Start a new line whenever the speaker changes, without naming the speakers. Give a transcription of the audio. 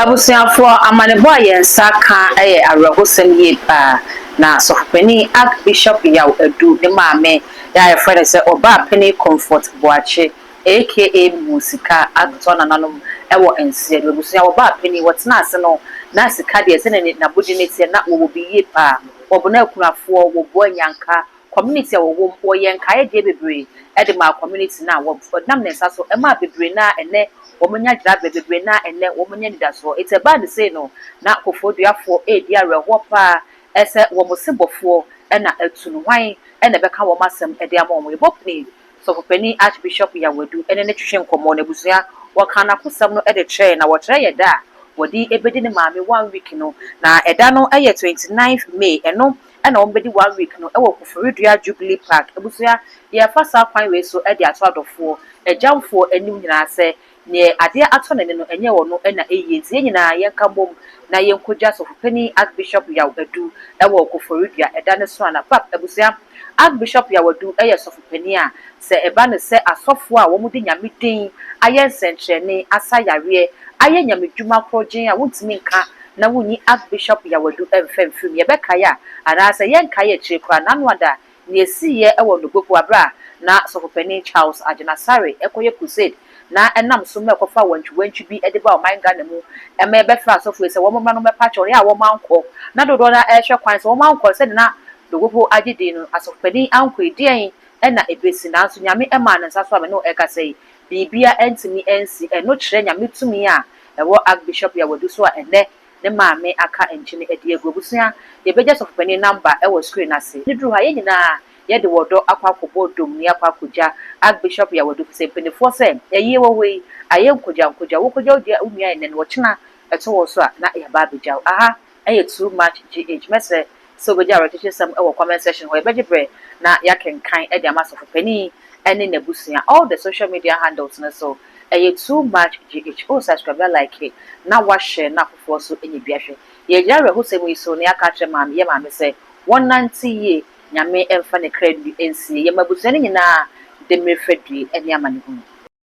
Abusuafoɔ, amanebɔ a yɛn nsa aka yɛ awerɛhosɛm yie paa, na Sɔfopanin Archbishop Yaw Adu ne maame yɛ a yɛfrɛ no sɛ Ɔbaapanin Comfort Boakye aka Mihuu Sika atotɔ nananom wɔ nseɛ no abusua ɔbaapanin wɔtenaa ase no na sika deɛ sɛdeɛ n'abodin no teɛ na wɔwɔ bi yie paa, wɔboa akunafoɔ, wɔboa anyanka, Community a wɔwɔ mu, wɔyɛɛ nkaedeɛ bebree de maa community no a wɔn, wɔde nam ne nsa so maa bebree no a ɛnnɛ wɔanya gyinaberɛ, bebree no a ɛnnɛ wɔanya anidasoɔ. Enti ɛbaa no sei no, na Kofoɔduafoɔ redi awerɛhoɔ pa ara sɛ wɔn sebɔfoɔ na atu no, hwan na ɛbɛka wɔn asɛm de ama wɔn? Yɛbɔ pini Sɔfopanin Archbishop Yawadu ne no twetwe nkɔmmɔ, n'abusua, wɔkaa n'akosɛm no de kyerɛɛ, na wɔkyerɛ yɛn da a wɔde bɛdi ne maame one week no, na ɛda no yɛ twenty nine May, ɛno na wɔbɛdi one week no wɔ Koforidua Jubilee Park. Abusua, yɛrefa saa kwan wei so de ato adɔfoɔ, agyamfoɔ anim nyinaa sɛ, neɛ adeɛ atɔ n'ani no, ɛnyɛ ɔno na ɛyie. Nti yɛn nyinaa yɛnka mmom na yɛnkɔgya Ɔsɔfopanin Archbishop Yaw Adu wɔ Koforidua, ɛda no so a na, Pap, abusua, Archbishop Yaw Adu yɛ Sɔfopanin a Sɛ ɛba no sɛ asɔfoɔ a wɔde Nyame din ayɛ nsɛnkyerɛnne, asa yareɛ, ayɛ Nyame dwuma korɔgyenn a wontumi nka na wonyi Archbishop Yawadu mfa mfiri mu, yɛbɛkae a, anaa sɛ yɛnkae akyire koraa, n'anoada, nea esiiɛ wɔ Nogbopo berɛ a na Sɔfopanin Charles Agyinasare rekɔyɛ crusade na ɛnam so ma ɛkɔfaa wantwiwantwi bi de baa ɔman Ghana mu ma yɛbɛfrɛɛ asɔfoɔ yi sɛ wɔmmra no mmɛpa kyɛw a wɔankɔ, na dodoɔ no ara rehwɛ kwan sɛ wɔankɔ sɛdeɛ na Nogbopo agye din no, Asɔfopanin ankɔ yi, deɛn ɛna ɛbɛsi, nanso Nyame ɛmaa no nsa so a me ne wo ɛkasa yi, biribia ɛntumi ɛnsi, ɛno kyerɛ Nyame tumi a ɛwɔ Archbishop Yawadu so a ɛnɛ ne maame aka nkyene ɛde agu. Abusua, yɛbɛgya Sɔfopanin namba ɛwɔ screen no ase. Ɛduru ha yɛn nyinaa yɛde wɔ dɔ akɔ akɔbɔ dommie akɔ akɔgya Archbishop Yawadu, ɛfisɛ mpaninfoɔ sɛ, ayie wɔ hɔ yi, ayɛ nkogya nkogya, wo kogya wo dua wo nua ɛnnɛ no, ɔkyena ɛtɔ wɔ so a na yɛaba abɛgya wo. Aha! Ɛyɛ too much GH. Mɛsrɛ sɛ wobɛgye awerɛkyekyesɛm wɔ comment section hɔ. Yɛbɛgye berɛ na yɛakenkan de ama Sɔfo Panin ne n'abusua. All the social media handles no so. Ɛyɛ too much GH. O subscribe na like na wa share na afoforɔ nso nya bi ahwɛ. Yɛgyina awerɛhosɛm yi so na yɛaka akyerɛ Maame, yɛn Maame sɛ wɔnnante yie, Nyame mfa ne kra nnue nsie yɛn mma abusua no nyinaa de mmerɛ fadue ne amanehunu.